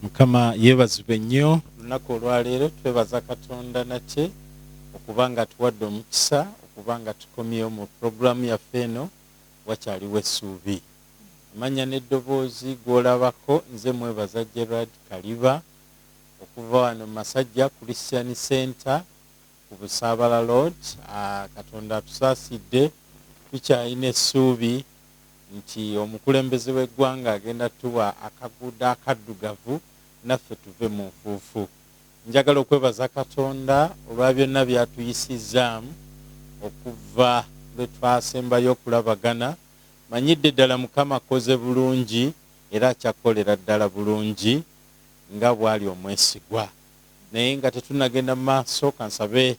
mukama yebazibwe nnyo olunaku olwaleero twebaza katonda nate okuba nga tuwadde omukisa okuba nga tukomyewo mu puroguramu yaffe eno wakyaliwo essuubi amanya n'eddoboozi gw'olabako nze mwebaza gerard kaliba okuva wano masajja christian center ku Busaabala Road. Katonda atusaasidde, tukyalina essuubi nti omukulembeze w'eggwanga agenda tuwa akaguudo akaddugavu naffe tuve mu nfuufu. Njagala okwebaza Katonda olwa byonna by'atuyisizzaamu okuva lwe twasembayo okulabagana. Manyidde ddala Mukama akkoze bulungi era akyakukolera ddala bulungi nga bw'ali omwesigwa. Naye nga tetunnagenda mu maaso, ka nsabe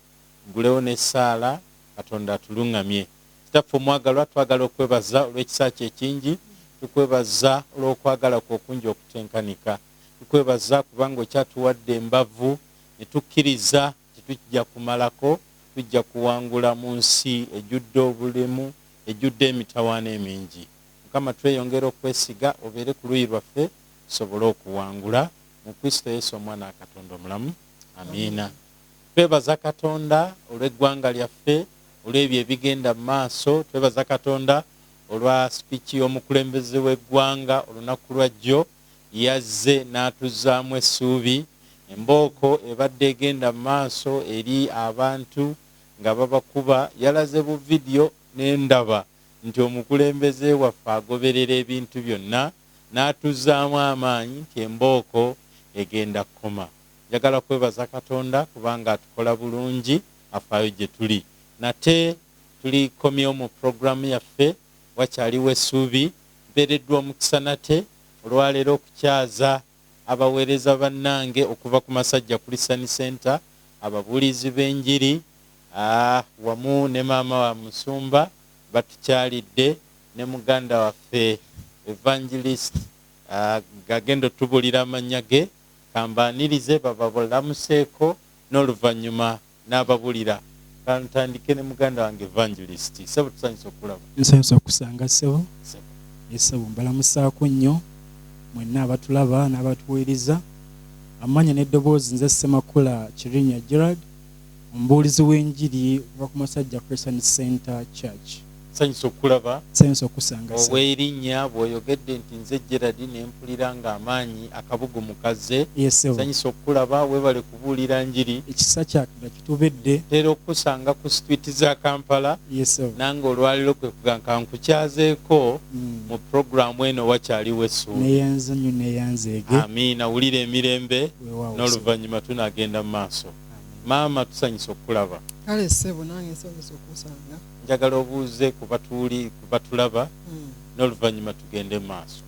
ngulewo n'essaala. Katonda atulungamye. Kitaffe Omwagalwa, twagala okwebaza olw'ekisa Kyo ekingi. Tukwebaza olw'okwagala Kwo okungi okutenkanika. Tukwebaza kubanga Okyatuwadde embavu, ne tukkiriza nti tujja kumalako, tujja kuwangula mu nsi ejjudde obulemu, ejjudde emitawaana emingi. Mukama, tweyongera okukwesiga Obeere ku luuyi lwaffe, tusobole okuwangula. mu Kristo Yesu Omwana wa Katonda omulamu. Amiina. Twebaza Katonda olw'eggwanga lyaffe, olw'ebyo ebigenda mu maaso. Twebaza Katonda olwa speech y'omukulembeze w'eggwanga olunaku lwa jjo. Yazze n'atuzzaamu essuubi. Embooko ebadde egenda mu maaso eri abantu nga babakuba. Yalaze bu video ne ndaba nti omukulembeze waffe agoberera ebintu byonna. n'atuzzaamu amaanyi nti embooko egenda kukoma. Njagala kwebaza Katonda kubanga atukola bulungi, afaayo gye tuli. Nate tulikomyewo mu pulogulaamu yaffe. Wakyaliwo essuubi. Mpeereddwa omukisa nate olwaleero okukyaza abaweereza bannange okuva ku Masajja Christian Centre, ababuulizi b'enjiri, aah, wamu ne maama wa musumba batukyalidde, ne muganda waffe Evangelist, aah, agenda otubuulira amannya ge, ka mbaanirize bababulamuseeko, n'oluvannyuma nababulira kantandike ne muganda wange evangelist sebo tusanyuse okulaba nsanyuse okusanga sebo ne sebo mbalamusaako nnyo mwenna abatulaba n'abatuweereza amanya n'eddoboozi nze semakula kirinya gerald omubuulizi w'enjiri okuva ku masajja christian center church Nsanyuse okukulaba. Nsanyuse okukusanga, ssebo. Obw'erinnya, bw'oyogedde nti, Nze Gerald, ne mpulira nga amaanyi, akabugumu kazze. Yee, ssebo. Nsanyuse okukulaba. Weebale kubuulira Njiri. Ekisa kya Katonda kitubedde. Ntera okukusanga ku situwiiti za Kampala. Yee, ssebo. Nange olwaleero kwe kugamba ka nkukyazeeko mu programu eno, Wakyaliwo Essuubi. Nneeyanza nnyo, nneeyanzeege. Amiina. Wulira emirembe. Weewaawo, ssebo. N'oluvannyuma tunaagenda mu maaso. Amiina. Maama, tusanyuse okukulaba. Kale, ssebo, nange nsanyuse okukusanga. njagala obuuze ku batuuli ku batulaba mm. n'oluvannyuma tugende maaso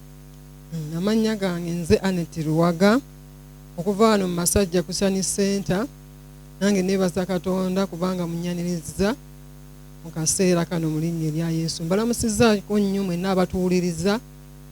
mm, amannya gange nze anet luwaga okuva wano mu masajja kusani senta nange nebaza katonda kubanga munyanirizza mu kaseera kano mu linnya erya yesu mbalamusizaako nnyo mwenna abatuwuliriza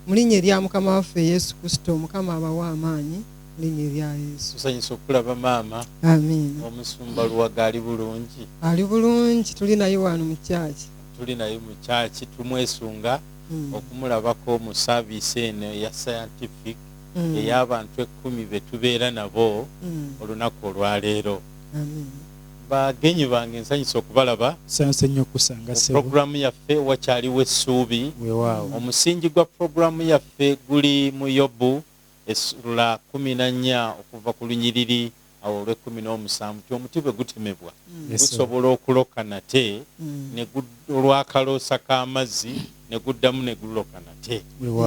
mu linnya erya mukama waffe yesu kristo mukama abawa amaanyi linnya erya yesu tusanyusa okulaba maama amiina omusumba luwaga ali bulungi ali bulungi tuli naye wano mu kyaki tuli naye mu kyaki tumwesunga hmm. okumulabako mu saaviisi eno eya scientific hmm. ey'abantu ekkumi be tubeera nabo hmm. olunaku olwaleero bagenyi bange nsanyusa okubalaba sanse nnyo kusanga sebo programu yaffe wakyaliwo essuubi wewaawo omusingi gwa programu yaffe guli mu yobu Essuula kkumi na nnya okuva ku lunyiriri awo olw'ekkumi n'omusanvu nti omuti bwe gutemebwa gusobola okuloka nate ne gu, olw'akaloosa k'amazzi, ne guddamu ne guloka nate.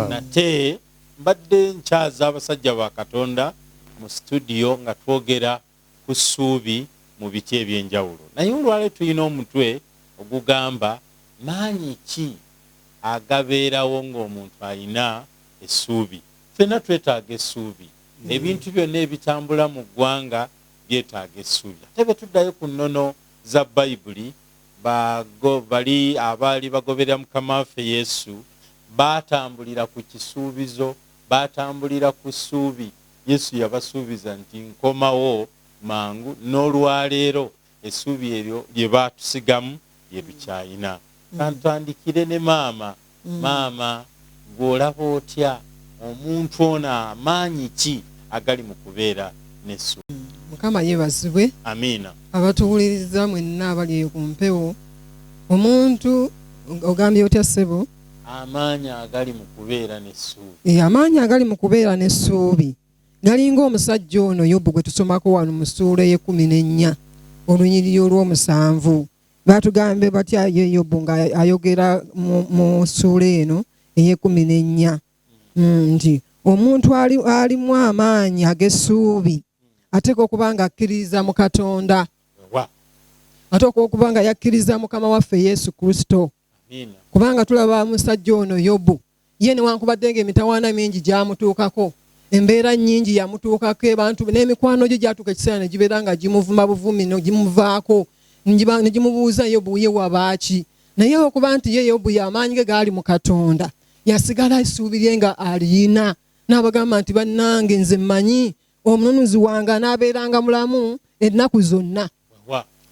Nate mbadde nkyaza abasajja ba Katonda mu situdiyo nga twogera. ku ssuubi mu biti eby'enjawulo naye olwaleero tulina omutwe ogugamba Maanyi ki agabeerawo ng'omuntu alina essuubi? Ffenna twetaaga essuubi. Ebintu byonna ebitambula mu ggwanga byetaaga essuubi. Ate bwe tuddayo ku nnono za Bayibuli, ba, go, bali abaali bagoberera Mukama waffe Yesu baatambulira ku kisuubizo, baatambulira ku ssuubi. Yesu yabasuubiza nti, Nkomawo mangu. N'olwa leero, essuubi eryo lye baatusigamu lye tukyalina. Ka ntandikire ne maama. Maama, ggwe olaba otya omuntu ono? Amaanyi ki agali mu kubeera n'essuubi? Mukama yeebazibwe. Amiina. Abatuwuliriza mwenna abali eyo ku mpewo, omuntu, ogambye otya ssebo? Amaanyi agali mu kubeera n'essuubi. Ee, amaanyi agali mu kubeera n'essuubi galinga omusajja ono Yobu gwe tusomako wano mu ssuula ey'ekkumi n'ennya olunyiriri olw'omusanvu. Baatugambe batya ye Yobu ng'ayogera mu ssuula eno ey'ekkumi n'ennya hmm, nti omuntu alimu amaanyi ag'essuubi ateeka okuba nga akkiririza mu Katonda ate okuba nga yakkiriza mukama waffe Yesu Kristo. kubanga tulaba musajja ono yobu ye newankubadde nga emitawaana mingi gyamutuukako embeera nyingi yamutuukako ebantu n'emikwano gye gyatuuka ekiseera ne gibeera nga gimuvuma buvumi negimuvaako negimubuuza yobu ye wabaaki naye okuba nti ye yobu yamaanyi ge gaali mu katonda yasigala esuubirye nga aliyina n'abagamba nti bannange nze mmanyi omununuzi wange anaabeeranga mulamu ennaku zonna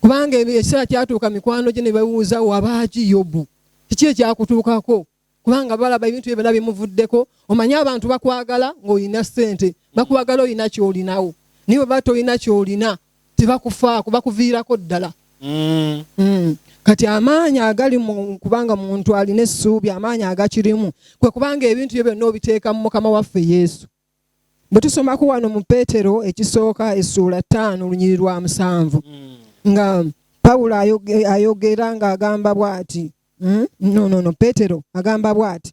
kubanga ekiseera kyatuuka mikwano gye ne bawuuza wabaaki yobu kiki ekyakutuukako kubanga balaba ebintu bye byona bimuvuddeko omanyi abantu bakwagala ng'olina ssente bakwagala olina kyolinawo naye bweba tolina kyolina tebakufaako bakuviirako ddala mm. Mm. kati amaanyi agali kubanga muntu alina essuubi amaanyi agakirimu kwe kubanga ebintu byo byonna obiteekamu mukama waffe yesu bwe tusomako wano mu peetero ekisooka essuula ttaano olunyiri lwa musanvu hmm. nga pawulo ayogera ng'agamba bw'ati hmm? nonono peetero agamba bw'ati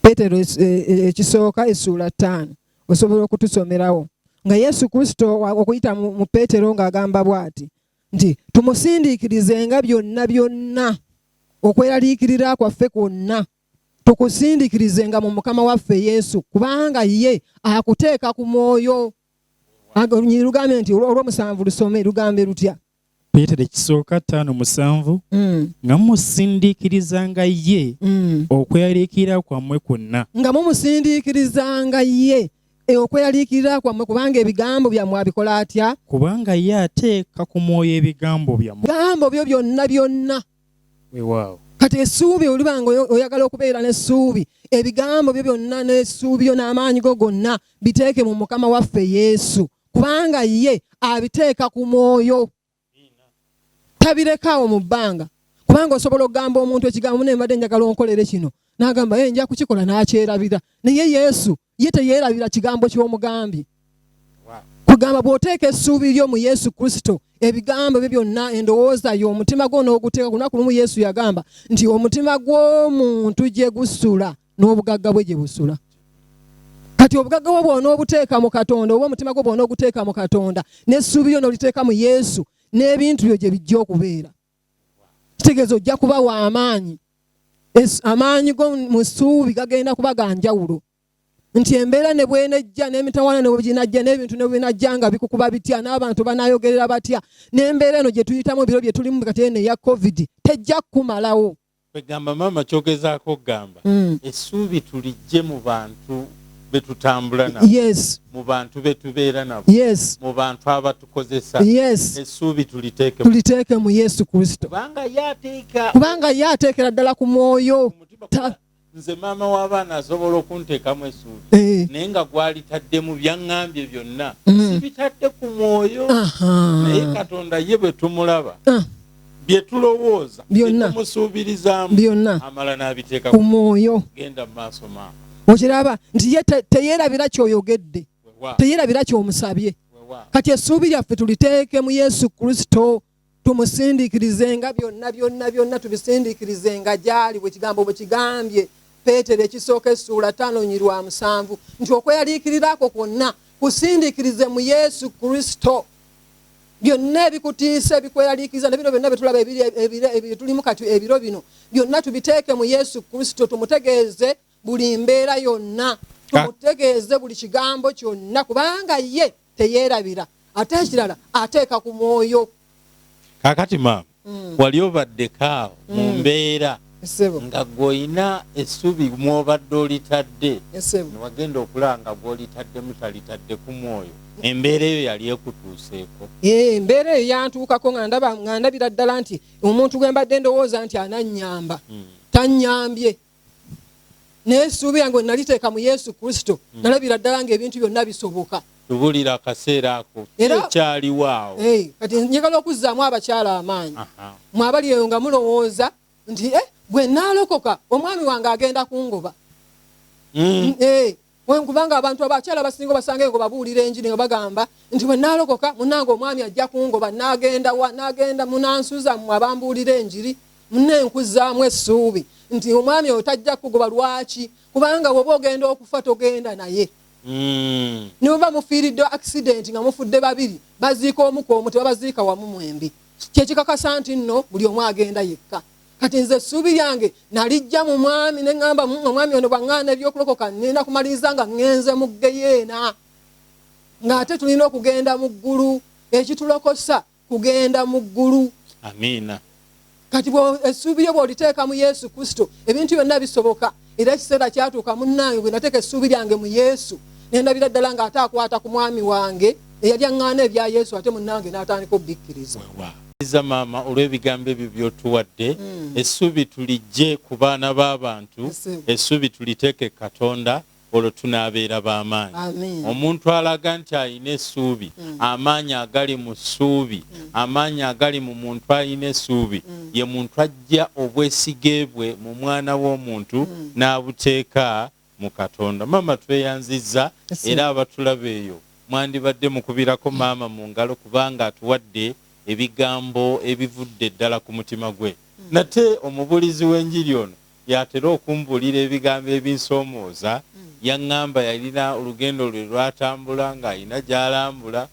peetero e, e, ekisooka essuula ttaano osobola okutusomerawo nga yesu kristo okuyita mu peetero ng'agamba bw'ati nti tumusindiikirizenga byonna byonna okweraliikirira kwaffe kwonna tukusindikirizenga mu mukama waffe yesu kubanga ye akuteeka ku mwoyo lugambe nti olwomusanvu lusome lugambe lutya peetero ekisooka ttaano musanvu mm. nga mumusindiikirizanga ye mm. okweyaliikirira kwammwe kwonna nga mumusindiikirizanga ye e, okweyaliikirira kwammwe kubanga ebigambo byammwe abikola atya kubanga ye ateeka ku mwoyo ebigambo byammwe bigambo byo byonna byonna wewaawo kati essuubi oliba nga oyagala okubeera n'essuubi ebigambo byo byonna n'essuubi yo n'amaanyi go gonna biteeke mu mukama waffe yesu kubanga ye abiteeka ku mwoyo tabirekaawo mu bbanga kubanga osobola okugamba omuntu ekigambo naye mbadde njagala onkolere kino n'agamba ye nja kukikola n'akyerabira naye yesu ye teyeerabira kigambo ky'omugambi kugamba bw'oteeka essuubi lyo mu yesu kristo ebigambo bye byonna endowooza yo omutima gwo n'oguteeka ku lunaku lumu yesu yagamba nti omutima gw'omuntu gye gusula n'obugagga bwe gye busula kati obugagga bwo bwona obuteeka mu katonda oba omutima gwo bwona oguteeka mu katonda n'essuubi lyo n'oliteeka mu yesu n'ebintu byo gye bijja okubeera kitegeeza ojja kuba wa amaanyi amaanyi go mu ssuubi gagenda kuba ga njawulo nti embeera ne bwenejja n'emitawana ne bweginajja n'ebintu ne bwebinajja nga bikukuba bitya n'abantu banayogerera batya n'embeera eno gye tuyitamu ebiro bye tulimu kati eno eya covid tejja kukumalawo Kwegamba maama kyogezaako okugamba mm. essuubi tulijje mu bantu betutambula nabo yes. mu bantu betubeera nabo yes. mu bantu abatukozesa yes. essuubi tuliteeke tuliteeke mu yesu kristo kubanga ye ateekera ddala ku mwoyo nze maama w'abaana asobola okuntekamu esuubi eh. naye nga gwalitadde mu byaŋŋambye byonna mm. sibitadde ku mwoyo naye katonda ye bwe tumulaba ah. bye tulowooza byonnatumusuubirizaamu byonna amala n'abiteeka ku mwoyo genda mu maaso maama okiraba nti ye teyeerabira kyoyogedde teyeerabira kyomusabye kati essuubi lyaffe tuliteeke mu yesu kristo tumusindikirizenga byonna byonna byonna tubisindikirizenga gyali bwe kigambo bwe kigambye peetero ekisooka essuula ttaano nyi lwa musanvu nti okweyaliikirira ako kwonna kusindikirize mu yesu kristo byonna ebikutiisa ebikweyaliikiriza na bino byonna byetulaba ebitulimu kati ebiro bino byonna tubiteeke mu yesu kristo tumutegeeze buli mbeera yonna tumutegeeze buli kigambo kyonna kubanga ye teyerabira ate ekirala ateeka ku mwoyo kakati maama mm. wali obadde kaawo mm. mu mbeera nga gweolina essubi mwobadde olitadde newagenda okulanga gwolitaddemu talitadde ku mwoyo embeera eyo yali ekutuuseeko embeera eyo yantuukako nga ndaba nga ndabira ddala nti omuntu gwe mbadde ndowooza nti anannyamba mm. tannyambye naye essuubi yange we naliteeka mu yesu kristo hmm. nalabira ddala ngaebintu byonna bisoboka tubulira akaseera ako ekyaliwo awo kati njagala okuzzaamu abakyala amaanyi mwabali eyo nga mulowooza nti eh, bwe naalokoka omwami wange agenda kungoba hmm. eh, Kubanga abantu abakyala abasinga obasanga engo babuulira enjiri nga bagamba nti bwe naalokoka munange omwami ajja kungoba naagenda wa naagenda munansuza mmwe abambuulira enjiri mune nkuzaamu essuubi nti omwami oyo tajja kugoba lwaki kubanga woba ogenda okufa togenda naye mm. ne bweba mufiiridde accident nga mufudde babiri baziika omuka omu tebabaziika wamu mwembi kyekikakasa nti nno buli omu agenda yekka kati nze essuubi lyange nalijja mu mwami ne ŋŋamba mm, omwami ono bwaŋŋaana ebyokulokoka ŋŋenda kumaliriza nga ŋŋenze mu ggeyeena ng'ate tulina okugenda mu ggulu ekitulokosa kugenda mu ggulu amiina kati essuubi yo bw'oliteeka mu yesu kristo ebintu byonna bisoboka era ekiseera kyatuuka munnange bwe nateeka essuubi lyange mu yesu nendabira ddala ng'ate akwata ku mwami wange eyali aŋŋaana ebya yesu ate munnange n'atandika obubikkiriza iza maama olw'ebigambo ebyo byotuwadde hmm. essuubi tulijje ku baana b'abantu essuubi tuliteeke katonda olwo tunaabeera b'amaanyi omuntu alaga nti alina essuubi hmm. amaanyi agali mu ssuubi hmm. amaanyi agali mu muntu alina essuubi ye muntu aggya obwesige bwe mu mwana w'omuntu n'abuteeka mu Katonda. Maama tweyanzizza era abatulaba eyo mwandibadde mukubirako maama mu ngalo kubanga atuwadde ebigambo ebivudde ddala ku mutima gwe. Nate omubuulizi w'enjiri ono y'atera okumbuulira ebigambo ebinsoomooza. Yang'amba yalina olugendo lwe lw'atambula ng'alina gy'alambula.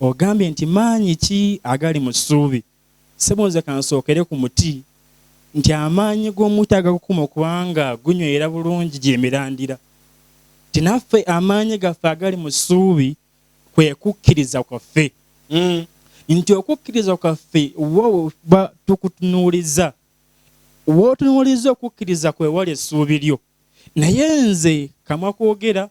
Ogambye nti maanyi ki agali mu ssuubi? Ssebo nze kansookere ku muti nti amaanyi g'omuti agakukuma okuba nga gunywera bulungi gy'emirandira. Nti naffe amaanyi gaffe agali mu ssuubi kwe kukkiriza kwaffe. Nti okukkiriza kwaffe wo we tuba tukutunuuliza. W'otunuuliza okukkiriza kwe wali essuubi lyo. Naye nze kamwa koogera.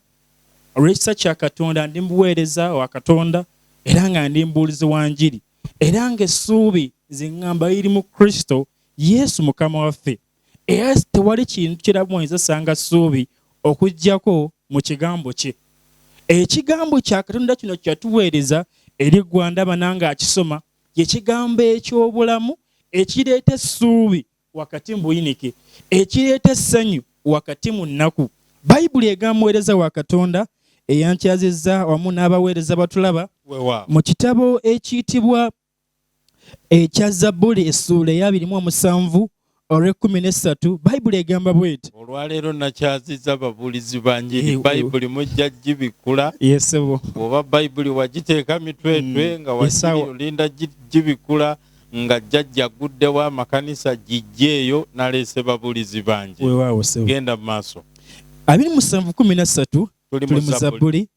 olw'ekisa kya Katonda ndi mubuweereza wa Katonda era nga ndi mubuulizi wa njiri era nga essuubi nze ngamba liri mu Kristo Yesu Mukama waffe era tewali kintu kirabu mwenza sanga ssuubi okujjako mu kigambo kye ekigambo kya Katonda kino kyatuweereza eri Gwanda bananga akisoma kye kigambo eky'obulamu ekireeta essuubi wakati mu buyinike, ekireeta essanyu wakati mu nnaku. Bayibuli egamba muweereza wa Katonda eyankyazizza wamu n'abaweereza batulaba mu kitabo ekiyitibwa ekya Zabbuli essuula ey'abiri mu omusanvu olw'ekkumi n'essatu bayibuli egamba bweti olwaleero nakyaziza ababuulizi ba njiri eh, bayibuli mujja gibikkula yesebo oba bayibuli wagiteeka mitwetwe mm, nga waolinda gibikkula nga jjajja agguddewo amakanisa giggyeeyo naleese babulizi bangi weewaawo ssebo genda mu maaso abiri musanvu kumi na ssatu tuli mu zabbuli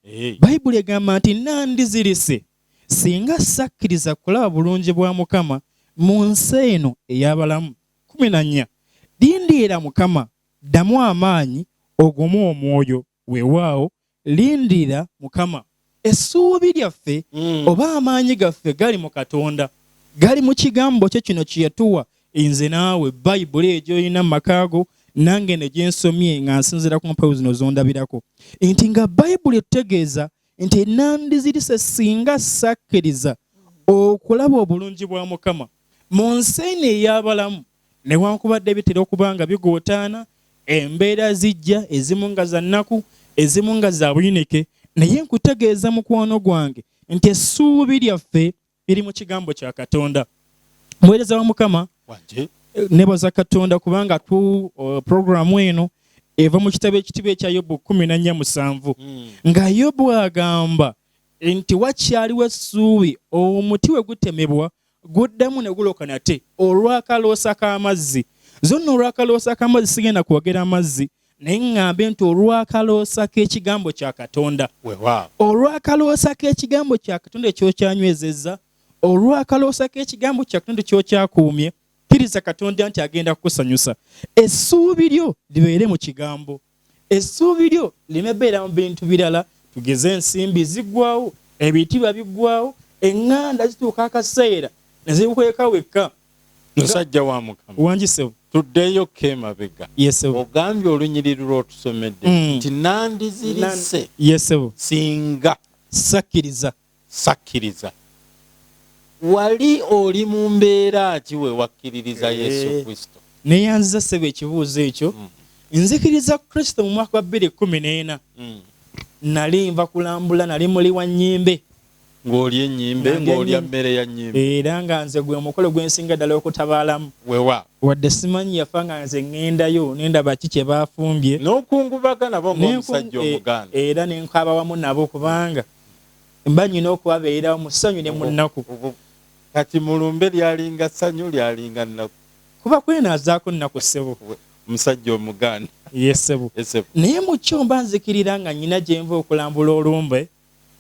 bayibuli egamba nti nandizirise singa sakkiriza kulaba bulungi bwa mukama mu nsi eno ey'abalamu kumi na nnya lindiira mukama ddamu amaanyi ogumu omwoyo Weewaawo, lindira Mukama. Essuubi lyaffe oba amaanyi gaffe gali mu Katonda, gali mu Kigambo kye kino kye yatuwa. Nze naawe, Bayibuli eyo gy'olina mu maka go, nange eno gye nsomye nga nsinziira ku mpeo zino z'ondabirako, nti nga Bayibuli etutegeeza nti nandizirise singa sakkiriza okulaba obulungi bwa mukama mu nsi eno ey'abalamu newankubadde bitera okuba nga bigootaana embeera zijja ezimu nga za nnaku ezimu nga za buyinike naye nkutegeeza mukwano gwange nti essuubi lyaffe biri mu kigambo kya katonda muweereza wa mukama eh, nebaza katonda kubanga tu uh, programu eno eva mu kitabo ekitibwa ekya yobu kumi na nnya musanvu hmm. nga yobu agamba nti wakyaliwo essuubi omuti we gutemebwa guddamu ne guloka nate olw'akaloosa k'amazzi zonna olw'akaloosa k'amazzi sigenda kwogera amazzi naye ŋŋambe nti olw'akaloosa k'ekigambo kya katonda olw'akaloosa k'ekigambo kya katonda ekyokyanywezezza olw'akaloosa k'ekigambo kya katonda kyokyakuumye kkiriza katonda nti agenda kukusanyusa essuubi lyo libeere mu kigambo essuubi lyo lime beera mu bintu birala tugeze ensimbi ziggwawo ebitiibwa biggwawo eŋŋanda zituuka akaseera ne zikweka wekka musajja wa mukama wangi sebo tuddeyo ko emabega yesebo ogambye olunyiriri lwotusomedde mm. nti mm. nandizirise yesebo singa sakkiriza sakkiriza wali oli mu mbeera ki we wakkiririza eh. yesu kristo neyanziza sebo ekibuuzo ekyo mm. nzikiriza kristo mu mwaka wa bbiri kumi n'ena mm. nali nva kulambula nali muli wa nyimbe ng'olya ennyimbe ng'olya mmere ya nnyimbe era nga nze gwe mukolo gwe nsinga ddala okutabaalamu wewa wadde simanyi yafa nga nze ŋŋendayo ne ndaba ki kye baafumbye n'okungubaga nabo ng'omusajja e, omuganda era ne nkaaba wamu nabo kubanga mba nnyina okubabeererawo mu ssanyu ne mu nnaku kati mu lumbe lyalinga ssanyu lyalinga nnaku kuba kwenaazaako nnaku ssebo omusajja omuganda ye ssebo naye mu kyo mba nzikirira nga nnyina gye nva okulambula olumbe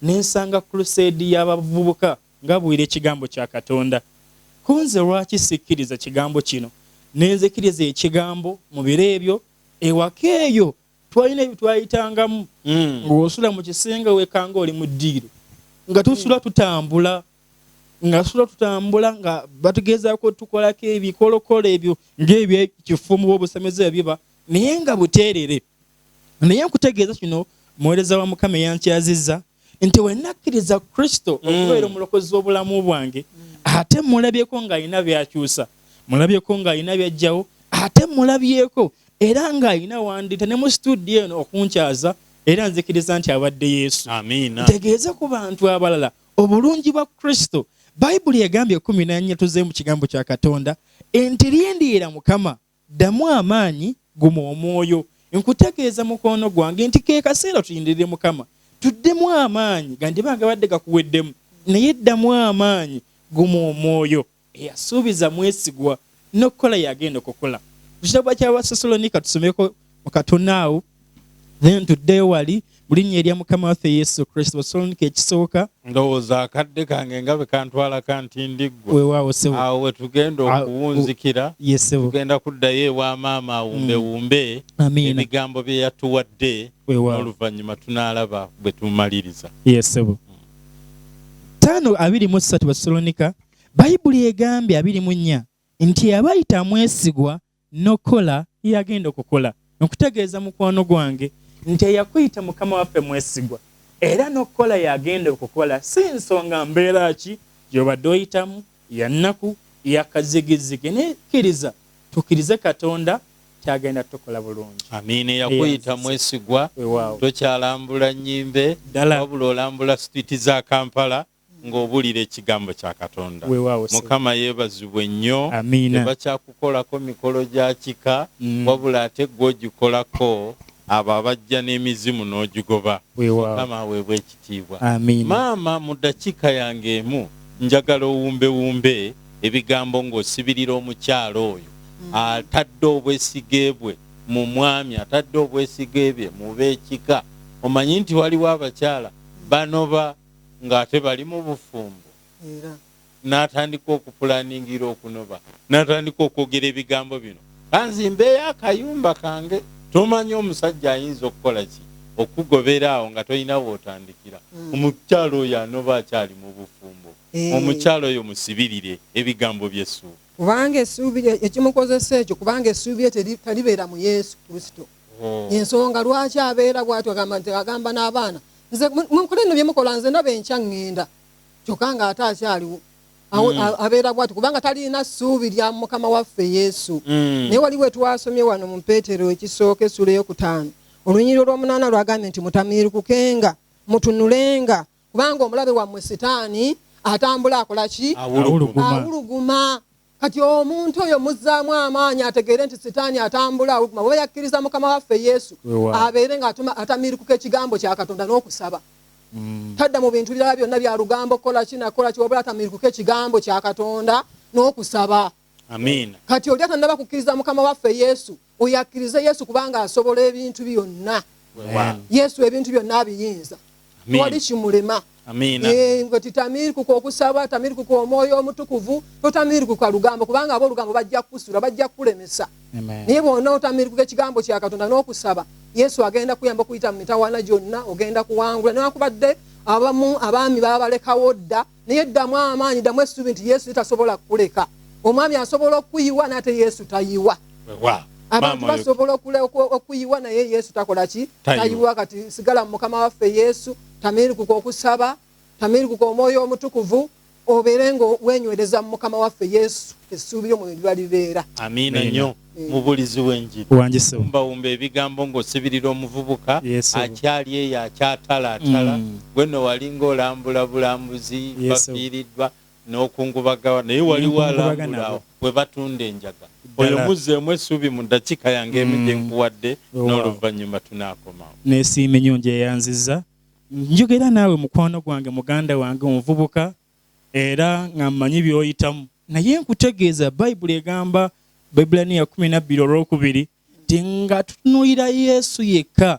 ne nsanga kruseedi y'abavubuka ngabuulira ekigambo kya Katonda. Ko nze lwaki sikkiriza kigambo kino? Ne nzikiriza ekigambo mu biro ebyo. Ewaka eyo twalina ebyo twayitangamu, hmm. ng'osula mu kisenge wekanga oli mu ddiiro, nga tusula tutambula nga sula tutambula nga batugezaako tukolako ebikolokolo ebyo ng'ebyekifumu obusemeza ebiba naye nga buteerere naye nkutegeeza kino muweereza wa mukama eyankyazizza nti wenakkiriza kristo mm. okubeera omulokozi w'obulamu bwange ate mulabyeko ng'alina byakyusa mulabyeko ng'alina byajjawo ate mulabyeko era ng'alina wandita ne mu situdiyo eno okunkyaza era nzikiriza nti abadde yesu ntegeeze ku bantu abalala obulungi bwa kristo bayibuli egambye ekumi nanyatuzeemu kigambo kya katonda enti lindiira mukama Ddamu amaanyi, guma omwoyo. Nkutegeeza mukwano gwange nti ke kaseera tulindirire Mukama. Tuddemu amaanyi, gandiba gabadde gakuweddemu, naye ddamu amaanyi, guma omwoyo. Eyasuubiza mwesigwa, n'okukola y'agenda okukola. Mu kitabo ky'Abassessalonika tusomeko mu katono awo. naye ntuddeyo wali mu linnya erya mukama waffe yesu kristo osolonika ekisooka ndowooza akadde kange nga bwe kantwala kanti ndiggweawo we tugenda okuwunzikira tugenda kuddayo ewa maama awumbewumbe mm. ebigambo bye yatuwadde n'oluvannyuma tunaalaba bwe tumaliriza yesebo taano abiri mu ssatu basolonika bayibuli egambye abiri mu nnya nti abayita amwesigwa N'okukola yagenda okukola nkutegeeza mukwano gwange nti eyakuyita Mukama waffe mwesigwa era n'okukola yagenda okukola si nsonga mbeera ki gy'obadde oyitamu ya nnaku, ya kazigizigi naye kkiriza tukkirize Katonda nti agenda tukola bulungi. Amiina eyakuyita mwesigwa. Weewaawo. Tokyalambula nnyimbe wabula olambula street za Kampala. nga obulira ekigambo kya katonda mukama yebazibwe nnyo tebakyakukolako mikolo gya kika mm. wabula ate gwe ogikolako abo abajja n'emizimu n'ogigoba mukama aweebwa ekitiibwa maama mu dakiika yange emu njagala owumbewumbe ebigambo ng'osibirira omukyalo oyo mm. atadde obwesige bwe mu mwami atadde obwesige bye mu b'ekika omanyi nti waliwo abakyala banoba ng'ate bali mu bufumbo era n'atandika okupulaningira okunoba n'atandika okwogera ebigambo bino, kanzimbeeyo akayumba kange tomanya omusajja ayinza okukola ki okukugobera awo nga tolina w'otandikira. Hmm. Omukyala oyo anoba akyali mu bufumbo. Eh. Omukyala oyo musibirire ebigambo by'essuubi. Kubanga essuubi ekimukozesa ekyo kubanga essuubi lye talibeera mu Yesu Kristo. hmm. ensonga lwaki abeera bwatyo agamba nti agamba n'abaana nze munkole nno byemukola nze ndaba enkya ŋŋenda kyokka nga ate akyaliwo hmm. abeera bwatyo kubanga talina ssuubi lya mukama waffe yesu hmm. naye wali we twasomye wano mu peetero ekisooka essula eyokutaano olunyiriro lw'omunaana lwagambye nti mutamiirukukenga mutunulenga kubanga omulabe wammwe sitaani atambula akola ki awuluguma kati omuntu oyo muzzaamu amaanyi ategeere nti sitaani atambula awuguma bweba yakkiriza mukama waffe yesu abeere nga atamiirikuka ekigambo kya katonda n'okusaba mm. tadda mu bintu birala byonna bya lugambo kukola ki nakukola ki wabula atamiirikuka ekigambo kya katonda n'okusaba kati oli atannaba kukkiriza mukama waffe yesu oyo akkirize yesu kubanga asobola ebintu byonna yesu ebintu byonna abiyinza wali kimulema eh, nga titamirikuka okusaba tamirikuka omwoyo omutukuvu totamirikuka lugambo kubanga aba olugambo bajja kukusula bajja kukulemesa naye bwona otamirikuka ekigambo kya katonda n'okusaba yesu agenda kuyamba okuyita mu mitawana gyonna ogenda kuwangula newakubadde abamu abaami babalekawo dda naye ddamu amaanyi ddamu essuubi nti yesu tasobola kukuleka omwami asobola okukuyiwa naye ate yesu tayiwa abantu basobola okuyiwa naye yesu takola ki tayiwa kati sigala mu mukama waffe yesu tamirikuka okusaba tamirikuka omwoyo omutukuvu obeere nga wenywereza mu mukama waffe yesu essuubi lyo mwe liba libeera amiina nyo mubulizi wenjiri wumba ebigambo ngosibirira omuvubuka akyali eyo akyatalaatala mm. gweno walinga olambula bulambuzi bafiiriddwa nokungubagawa naye waliwo alambulawo webatunda enjaga oyo muzzeemu essuubi mu ddakiika yange emu mm. gyenkuwadde n'oluvannyuma tunaakomawo nesiimi nyo njeyanziza njogera naawe mukwano gwange muganda wange omuvubuka era nga mmanyi by'oyitamu naye nkutegeeza bayibuli egamba baibulaniya kumi nabbiri olwokubiri nti nga tutunuulira yesu yekka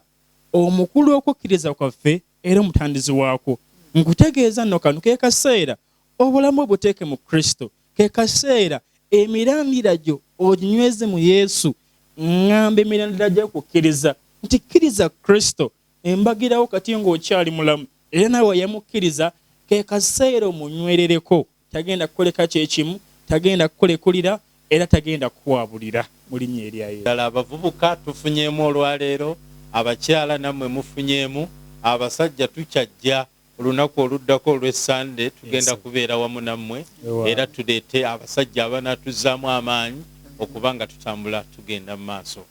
omukulu okukkiriza kwaffe era omutandizi waakwo nkutegeeza nno kano ke kaseera obulamu obuteeke mu kristo ke kaseera emirandira gyo oginyweze mu yesu ŋŋamba emirandira gy'okukkiriza nti kkiriza kristo embagirawo kati ng'okyali mulamu era nawe wayamukkiriza, ke kaseera omunywerereko. Tagenda kukuleka kye kimu, tagenda kukulekulira era tagenda kukwabulira mu Linnya erya Yesu. Ddala abavubuka tufunyeemu olwaleero? Abakyala nammwe mufunyeemu? Abasajja tukyajja. Olunaku oluddako olw'e Ssande tugenda kubeera wamu nammwe era tuleete abasajja abanaatuzzaamu amaanyi okuba nga tutambula tugenda mu maaso.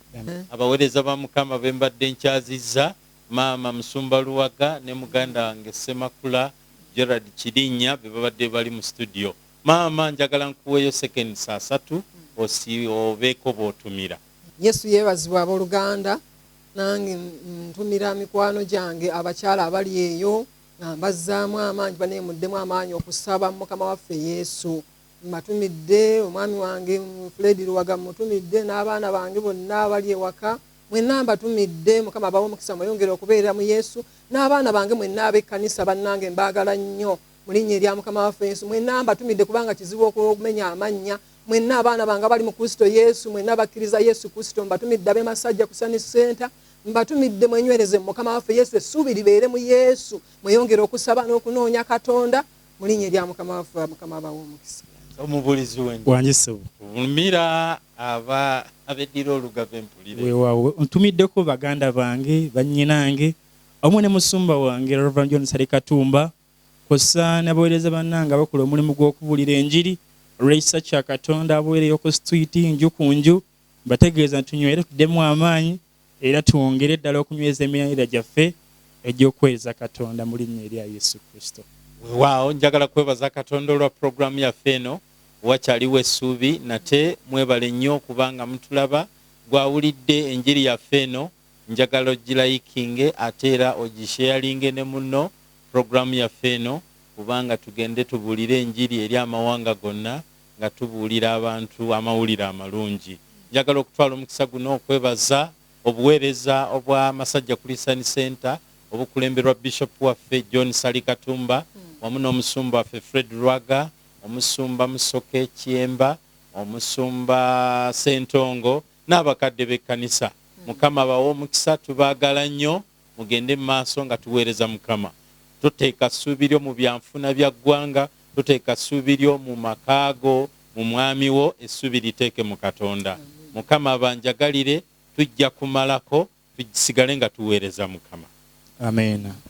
Abaweereza ba Mukama be mbadde nkyazizza, Maama Musumba Luwaga ne muganda wange Ssemakula Gerald Kirinnya be babadde bali mu situdiyo. Maama njagala nkuweeyo seconds asatu obeeko b'otumira. Yesu yeebazibwe abooluganda. Nange ntumira mikwano gyange abakyala abali eyo nga mbazzaamu amaanyi banaye muddemu amaanyi okusaba mu Mukama waffe Yesu. Mbatumidde omwami wange Fred Luwaga mmutumidde n'abaana bange bonna abali ewaka mwenna mbatumidde Mukama abawe omukisa mweyongere okubeera mu Yesu n'abaana bange mwenna ab'ekkanisa bannange mbaagala nnyo mu linnya erya Mukama waffe Yesu mwenna mbatumidde kubanga kizibu okumenya amannya Mwenna abaana bange abali mu Kristo Yesu, mwenna abakkiriza Yesu Kristo, mbatumidde ab'e Masajja ku Sunny Center, mbatumidde mwenywereze mu Mukama waffe Yesu, essuubi libeere mu Yesu, mweyongere okusaba n'okunoonya Katonda mu linnya erya Mukama waffe, Mukama abawe omukisa. Omubuulizi w'enjiri. Wangi ssebo. Vumira aba abeddira olugave mpulire. Weewaawo ntumiddeko baganda bange, bannyinange, wamu ne musumba wange Rev. John Ssali Katumba, kwossa nabawereza banange abakola omulimu gwokubulira enjiri olwekisa kya Katonda abuwereyo ku situiti nju ku nju mbategeeza nti tunywere tudemu amaanyi era twongere ddala okunyweza emirandira gyaffe egyokuwereza Katonda mu linnya erya Yesu Kristo. Wewaawo njagala kwebaza Katonda olwa program yaffe eno wakyaliwo essuubi nate mwebale nnyo kubanga mutulaba gwawulidde enjiri yaffe eno njagala ogilayikinge ate era ogisheyalinge ne munno program yaffe eno kubanga tugende tubuulire enjiri eri amawanga gonna nga tubuulira abantu amawulire amalungi. Njagala okutwala omukisa guno okwebaza obuweereza obwa Masajja Christian Centre obukulemberwa Bishop waffe John Ssali Katumba wamu n'omusumba waffe Fred Lwaga, omusumba Musoke Kyemba, omusumba Ssentongo, n'abakadde b'ekkanisa. Mukama abawe omukisa. Tubaagala nnyo. Mugende mu maaso nga tuweereza Mukama. Toteeka ssuubi lyo mu byanfuna bya ggwanga. Toteeka ssuubi lyo mu maka go, mu mwami wo. Essuubi liteeke mu Katonda. Mukama abanjagalire. Tujja kumalako. Tusigale nga tuweereza Mukama. Amiina.